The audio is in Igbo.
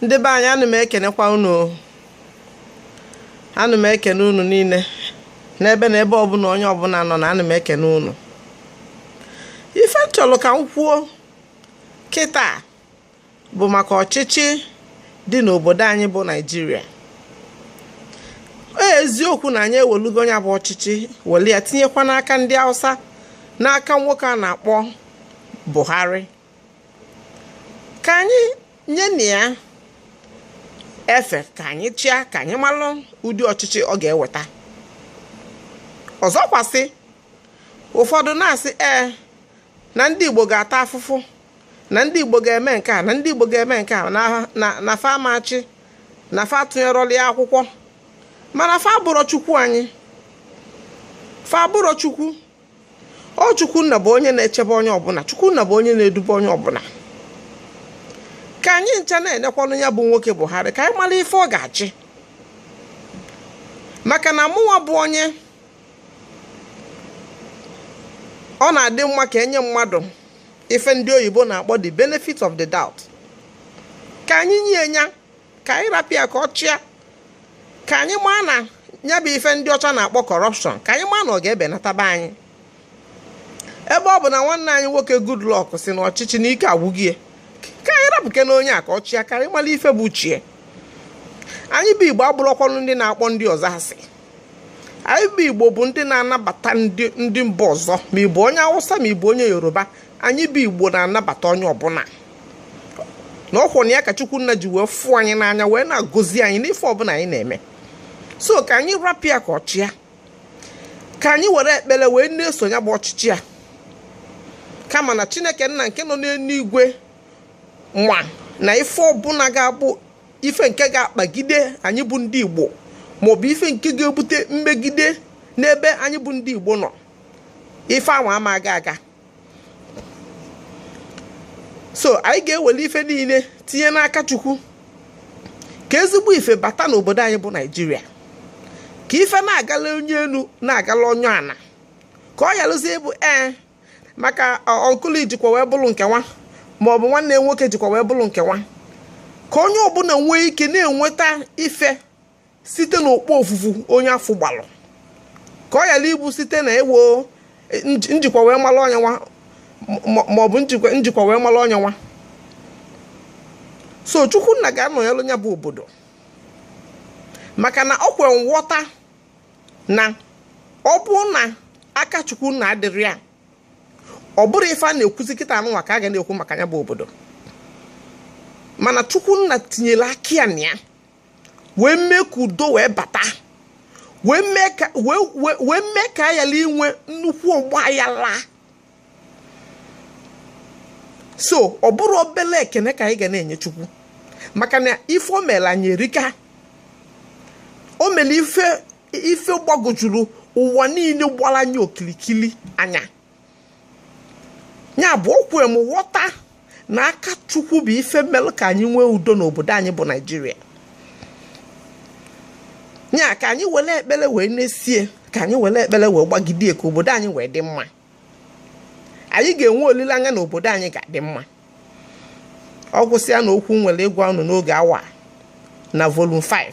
ndị be anyị ana m ekenekwa unu ana m ekene unu niile n'ebe na ebe ọbụla onye ọbụla nọ na ana m ekene unu ife m chọrọ ka m kwuo kịta bụ maka ọchịchị dị n'obodo anyị bụ naijiria eziokwu na anyị ewelugonụ ya bụ ọchịchị weli ya tinyekwa n'aka ndị hausa n'aka nwoke a na-akpọ buhari ka anyị nyenụ ya efe ka anyị chịa ka anyị malụ ụdị ọchịchị ọ ga-eweta ọzọkwasị ụfọdụ na-asị ee na ndị Igbo ga-ata afụfụ na ndị Igbo ga-eme nke a na ndị Igbo ga-eme nke a na fa amachi na fa atụnyerọlị ya akwụkwọ mana fa abụrọ Chukwu anyị fa abụrọ Chukwu ọ chukwunna bụ onye na-echebe onye ọbụla chukwunna bụ onye na-edube onye ọbụla ka anyị ncha na-enekwanụ ya bụ nwoke buhari ka anyị mara ife ọ ga-achị maka na mụnwa bụ onye ọ na-adị mma ka e nye mmadụ ife ndị oyibo na-akpọ the benefit of the doubt ka anyị nye ya ka anyị rapụ ya ka ọ chịa ka anyị maa na ya bụ ife ndị ọcha na-akpọ corruption ka anyị maa na ọ ga-ebenata be anyị ebe ọ bụ na nwanne anyị nwoke Goodluck sị na ọchịchị na ike agwụgo ya ka anyị rapụkene onye a ka ọ chịa ka anyị mara ife bụ uche ya anyị bụ igbo abụrọkwanụ ndị na-akpọ ndị ọzọ asị anyị bụ igbo bụ ndị na-anabata ndị mba ọzọ ma ị bụ onye awụsa ma ị bụ onye yoruba anyị bụ igbo na-anabata onye ọbụla na ọ kwanụ ya ka chukwu nna ji wee fụ anyị n'anya wee na-agọzi anyị n'ife ọbụla anyị na-eme so ka anyị rapụ ya ka ọ chịa ka anyị were ekpere wee na-eso ya bụ ọchịchị a kama na chineke nna nke nọ n'eluigwe nwa na ife ọbụla ga-abụ ife nke ga-akpagide anyị bụ ndị igbo maọbụ ife nke ga-ebute mmegide n'ebe anyị bụ ndị igbo nọ ife ahụ ama aga aga so anyị ga-ewere ife niile tinye n'aka chukwu ka ezigbo ife bata n'obodo anyị bụ naijiria ka ife na-agala onye enu na-agala onye ana ka ọ yalụzie ịbụ ee maka uncle ị jikwa wee bụrụ nke nwa ma ọ bụ nwanne nwoke jikwa wee bụrụ nke nwa ka onye ọbụla nwee ike na-enweta ife site n'okpofufu onye afụ gbalụ ka ọ yala ịbụ site na ewo e, njikwa wee mara onye nwa ma ọ bụ njikwa wee mara onye nwa so chukwunna ga-anọnyelụ ya bụ obodo maka na o kwe nghọta na ọ bụ na aka chukwunna adịrọ ya ọ bụrọ ife a na-ekwuzi kịta anụnwa ka a ga na-ekwu maka ya bụ obodo mana chukwunna tinyere aka ya na ya wee mee ka udo wee bata wee mee ka a yala inwe nnukwu ọgba ayala so ọ bụrọ obele ekene ka anyị ga na-enye chukwu maka na ife o mere anyị erika o mere ife gbagojuru ụwa niile gbara anyị okilikili anya ya bụ o kwe m ghọta na aka chukwu bụ ife melu ka anyị nwee udo n'obodo anyị bụ naịjirịa ya ka anyị were ekpere wee nesie ka anyị were ekpere wee gbagidee ka obodo anyị wee dị mma anyị ga-enwe olileanya na obodo anyị ga-adị mma ọ gwụsịa na okwu m nwere ịgwa unu n'oge awa na volume 5